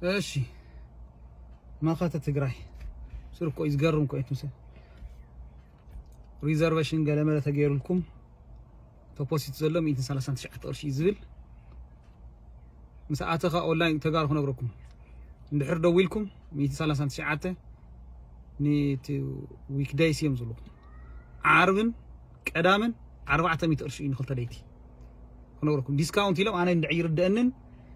እሺ መኸተ ትግራይ ስር እኮ እዩ ዝገርም እኮ እዩ ትምስል ሪዘርቬሽን ገለመለ ተገይሩልኩም ተፖሲት ዘሎ 139 ቅርሺ እዩ ዝብል ምስ ኣተኻ ኦንላይን ተጋሩ ክነግረኩም እንድሕር ደው ኢልኩም 139 ኒቲ ዊክደይስ እዮም ዝብልኩም ዓርብን ቀዳምን ኣርባዕተ ሚእቲ ቅርሺ እዩ ንክልተ ደይቲ ክነግረኩም ዲስካውንት ኢሎም ኣነ እንድዕ ይርደአንን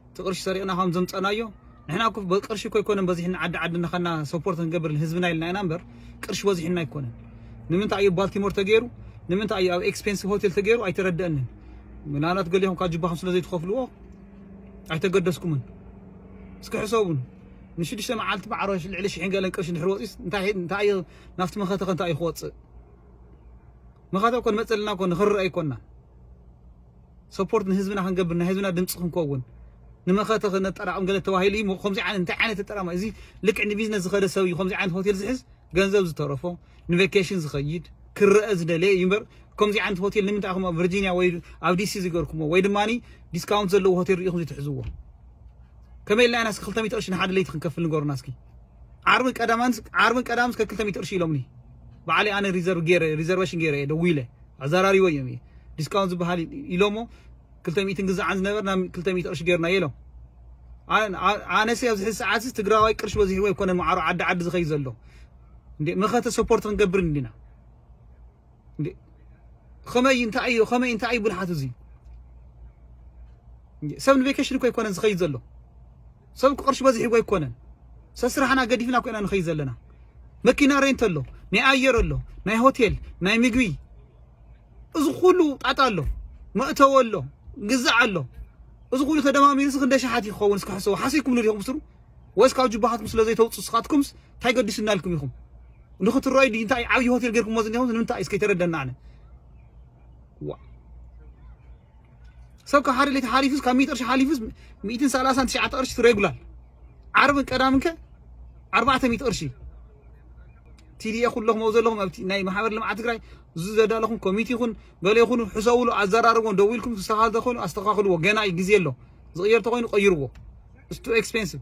እቲ ቅርሺ ሰሪቕና ከም ዘምፀእናዮ ንሕና እኮ ብቅርሺ እኮ ኣይኮነን በዚሕና ዓዲ ዓዲ እናኸና ሰፖርት ክንገብር ህዝብና ኢልና ኢና እምበር ቅርሺ በዚሕና ኣይኮነን። ንምንታይ እዩ ባልቲሞር ተገይሩ? ንምንታይ እዩ ኣብ ኤክስፔንሲቭ ሆቴል ተገይሩ? ኣይተረደአንን። ምናልባት ገሊኹም ካብ ጅባኹም ስለ ዘይትኸፍልዎ ኣይተገደስኩምን። እስኪ ሕሰቡን ንሽዱሽተ መዓልቲ ማዕረ ልዕሊ ሽሕን ገለን ቅርሺ ድሕሪ ወፂስ እንታይ እንታይ እዩ ናብቲ መኸተ ከ እንታይ እዩ ክወፅእ መኸተ እኮ ንመፀልና እኮ ንክርአ ኣይኮና ሰፖርት ንህዝብና ክንገብር ናይ ህዝብና ድምፂ ክንከውን ንመኸተ ክነጠራቕም ገለ ተባሂሉ እዩ ከምዚ ዓይነት እንታይ ዓይነት ተጠራማ እዚ ልክዕ ንቢዝነስ ዝኸደ ሰብ እዩ ከምዚ ዓይነት ሆቴል ዝሕዝ ገንዘብ ዝተረፎ ንቬኬሽን ዝኸይድ ክረአ ዝደለየ እዩ እምበር ከምዚ ዓይነት ሆቴል ንምንታይ ኢኹም ኣብ ቨርጂኒያ ወይ ኣብ ዲሲ ዝገርኩሞ ወይ ድማ ዲስካውንት ዘለዎ ሆቴል ርኢኹም ዝትሕዝዎ ከመይ ኢልና ኢና እስኪ ክልተ ሚእቲ ቅርሺ ንሓደ ለይቲ ክንከፍል ንገሩና እስኪ ዓርብን ቀዳማን ዓርብን ቀዳምን እስከ ክልተ ሚእቲ ቅርሺ ኢሎምኒ በዓለይ ኣነ ሪዘርቭ ገይረ ሪዘርቬሽን ገይረ እየ ደዊለ ኣዛራሪበዮም እየ ዲስካውንት ዝባሃል ኢሎሞ ክልተ ሚእቲ ንግዛዕ ዝነበር ናብ ክልተ ሚእቲ ቅርሺ ጌርናዮ ኢሎም ኣነሰ ኣብዚ ሕዚ ሰዓትስ ትግራዋይ ቅርሺ በዚሕዎ ኣይኮነን ማዕሮ ዓዲ ዓዲ ዝኸይ ዘሎ እንዴ መኸተ ሰፖርት ክንገብር እንዲና እንዴ ከመይ እንታይ እዩ ከመይ እንታይ እዩ ብልሓት እዚ ሰብ ንቬኬሽን እኮ ኣይኮነን ዝኸይድ ዘሎ ሰብ እኮ ቅርሺ በዚሕዎ ኣይኮነን ሰስራሕና ገዲፍና እኮ ኢና ንኸይድ ዘለና መኪና ሬንት ኣሎ ናይ ኣየር ኣሎ ናይ ሆቴል ናይ ምግቢ እዚ ኩሉ ጣጣ ኣሎ መእተዊ ኣሎ ግዛዕ ኣሎ እዚ ኩሉ ተደማሚሩ ስ ክንደ ሸሓት ይኸውን እስኪ ሕሰቡ ሓሲብኩም ንዲኹም ስሩ ወይስ ካብ ጅባኻትኩም ስለ ዘይተውፅኡ ስኻትኩምስ እንታይ ገዲሱና ኢልኩም ኢኹም ንክትረኣዩ ድዩ እንታይ ዓብዪ ሆቴል ጌርኩምዎ ዝኒኹም ንምንታይ እስከ ተረደና ኣነ ዋ ሰብ ካብ ሓደ ሌት ሓሊፉስ ካብ ሚእቲ ቅርሺ ሓሊፉስ ሚእትን ሰላሳን ትሽዓተ ቅርሺ ሬጉላር ዓርብን ቀዳምን ከ ኣርባዕተ ሚእቲ ቅርሺ ቲዲኤ ኩለኹም ኣብኡ ዘለኹም ኣብቲ ናይ ማሕበር ልምዓት ትግራይ እዚ ዘዳለኹም ኮሚቴ ይኹን ገለ ይኹኑ ሕሰብሉ ኣዘራርቦን ደው ኢልኩም ክስተኻኸል ተኽእሉ ኣስተኻኽልዎ ገና እዩ ግዜ ኣሎ ዝቕየር ተኾይኑ ቀይርዎ ስቱ ኤክስፔንሲቭ